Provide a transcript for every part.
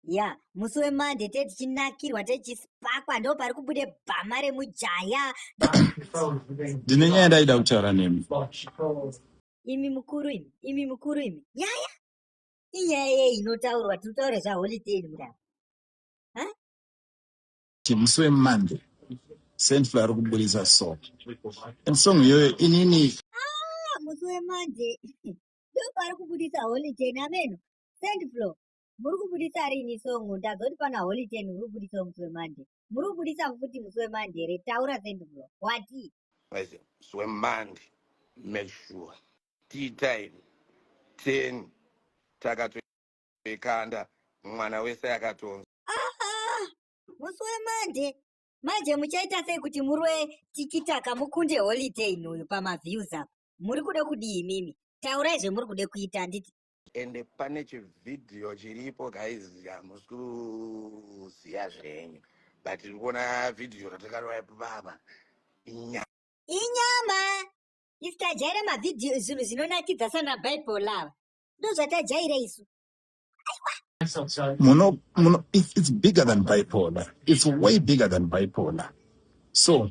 ya musi wemande tee tichinakirwa tee tichispakwa ndo pari kubude bhama remujaya ndine nyaya ndaida kutaura nemi imi mukuru imi imi mukuru imi nyaya inyaya yei inotaurwa tiri kutaura zvaholiday ini mudaro musi wemande sentful ari kuburitsa song and song iyoyo inini ah, musi wemande ndo pari kubudisa holiday nameno Saint Flo, muri kubuditsa rini song ndazoti pana Holy Ten uri kubuditsa musi weMonday. Muri kubuditsa futi musi weMonday here? Taura Saint Flo. Wati? Paise musi weMonday make sure tea time 10 takatoikanda mwana wese akatonzwa. Ah! Musi weMonday manje muchaita sei kuti murwe tikitaka mukunde Holy Ten uyu pamaviews apa? Muri kuda kudii imimi? Taurai zvemuri kuda kuita handiti? ende pane chivhidhiyo chiripo guys hamusi kuziva zvenyu but tiri kuona vhidhiyo ratakarova ipo baba inyama inyama isu tajaira mavhidhiyo zvinhu zvinonakidza sana bible ava ndozvatajaira isu muno muno it's, it's bigger than bipolar it's way bigger than bipolar so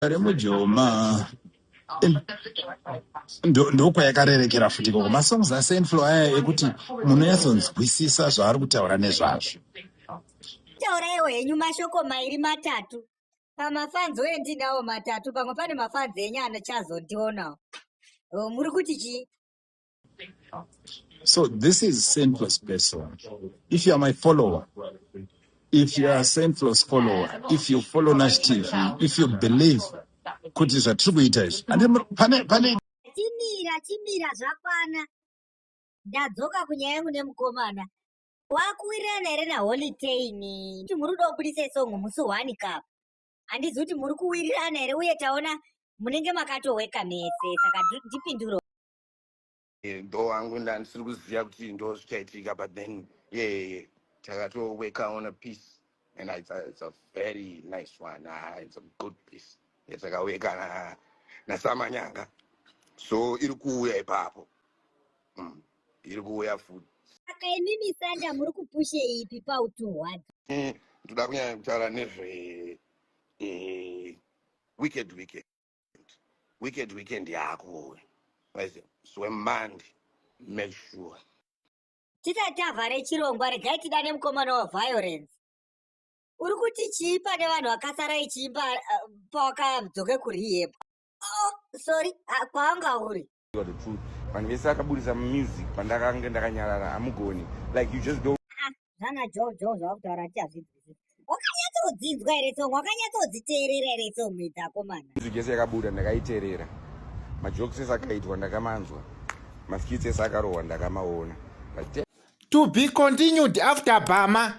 Ari mujoma Em, ndo- ndokwayakarerekera futi ikoko masongs asenflo aya ekuti munonyatsonzwisisa zvaari kutaura nezvazvo Tauraiwo henyu mashoko mairi matatu. Pamafanzi uye ndinawo matatu, pamwe pane mafanzi enyu anochazondionawo. Oh, muri kuti chii? So this is senseless person. If you are my follower, if you are a senseless follower, if you follow Nash TV, if you believe kuti zvatiri kuita izvi pane pane chimira chimira zvakwana ndadzoka kunyaya yangu nemukomana wakuwirirana here naholy tain kuti muri kuda kubudisa isongo musi one cup handizi kuti muri kuwirirana here uye taona munenge makatoweka mese saka ndipinduro Eh, bho wangu ndandisiri kuziva kuti ndo zvichaitika but then yeye takatoweka on a piece and it's a, it's a very nice one ah, it's a good piece yatakaweka na- nasamanyanga so iri kuuya ipapo mm. iri kuuya futi Saka imimi Sanda muri kupushe ipi pautuhwata? Eh, ndoda kunyanya kutaura nezve eh, wicked wicked weekend weekend yako uwe zwe mandi make sure tisati tavhare chirongwa regai tidane mukomana waviolence uri kuti chii pane vanhu vakasara ichiimba uh, pawakadzoke kurihebwa oh, sorry uh, ah, kwawanga uri the truth vanhu vese akaburitsa music pandakange ndakanyarara hamugoni like you just don't zvana ah, jo jo zvavakutaura ti hazvinzwisisi wakanyatsodzidza here song wakanyatsodziteerera here song idzakomana music yese yakabuda ndakaiteerera majokes ese akaitwa ndakamanzwa maskits ese akarohwa ndakamaona to be continued after bama